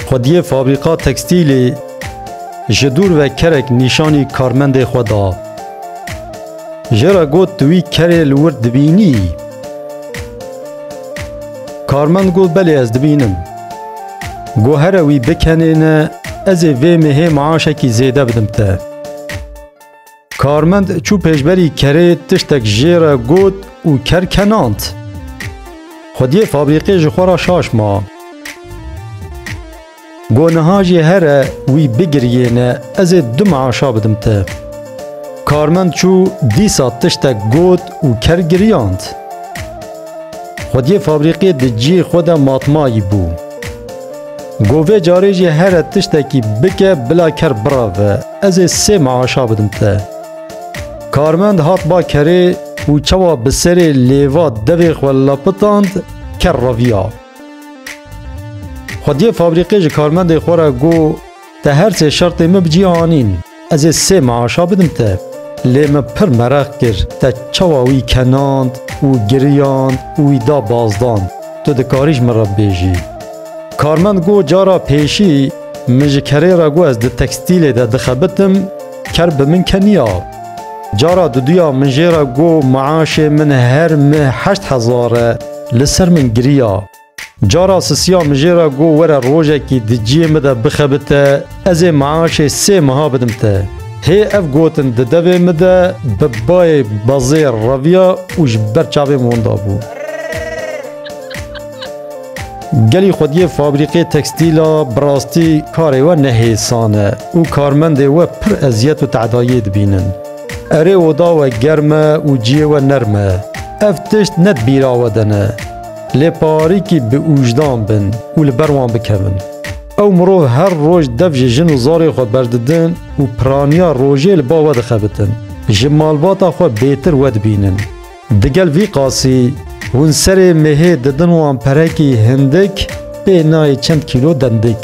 Xwediyê fabrîka tekstîlê ji dûr ve kerek nîşanî karmendê xwe da. Jê re got tu wî kerê li wir dibînî? Karmend got belê ez dibînim. Got here wî bikenêne ez ê vê mêhê maaşekî zêde bidim te. Karmend çû pêşberî kerê tiştek jê re got û ker kenand. Xwediyê fabrîqê ji xwe re şaş ma. Got niha jî here wî bigiriyêne ez ê du meaşa bidim te. Karmend çû dîsa tiştek got û ker giriyand. Xwediyê fabrîqê di cihê xwe de matmayî bû. Got vê carê jî here tiştekî bike bila ker birave, ez ê sê meaşa bidim te. Karmend hat ba kerê û çawa bi serê lêva devê xwe lapitand ker reviya. Xwediyê fabrîqê ji karmendê xwe re got Te her sê şertên min bi cî anîn. Ez ê sê maaşa bidim te. Lê min pir mereq kir te çawa wî kenand û giriyand û wî da bazdan. Tu dikarî ji min re bibêjî. Karmend got, Cara pêşî min ji kerê re got ez di tekstîlê de dixebitim, ker bi min keniya. Cara duduya min jê re got maaşê min her meh heşt hezar e. Li ser min giriya. Cara sisiya min jê re got were rojekî di ciyê min de bixebite ez ê meaşê sê meha bidim te. Hê ev gotin di devê min de bi bayê bazê reviya û ji ber çavê min winda bû. Gelî xwediyê fabrîkê tekstîl a bi rastî karê we ne hêsan e û karmendê we pir eziyet û tedayiyê dibînin. Erê oda we germ e û ciyê we nerm e. Ev tişt ne di bîra we de ne. Lê parîkî bi ûjdan bin û li ber wan bikevin. Ew mirov her roj dev ji jin û zarê xwe berdidin û piraniya rojê li ba we dixebitin. Ji malbata xwe bêtir we dibînin. Digel vî qasî hûn serê mehê didin wan perekî hindik pê nayê çend kîlo dendik.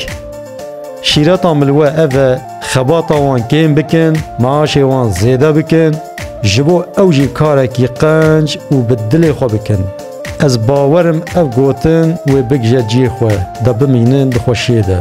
Şîreta min li we ev e. Xebata wan kêm bikin, maaşê wan zêde bikin, ji bo ew jî karekî qenc û bi dilê xwe bikin. Ez bawer im ev gotin wê bigije cihê xwe de bimînin di xweşiyê de.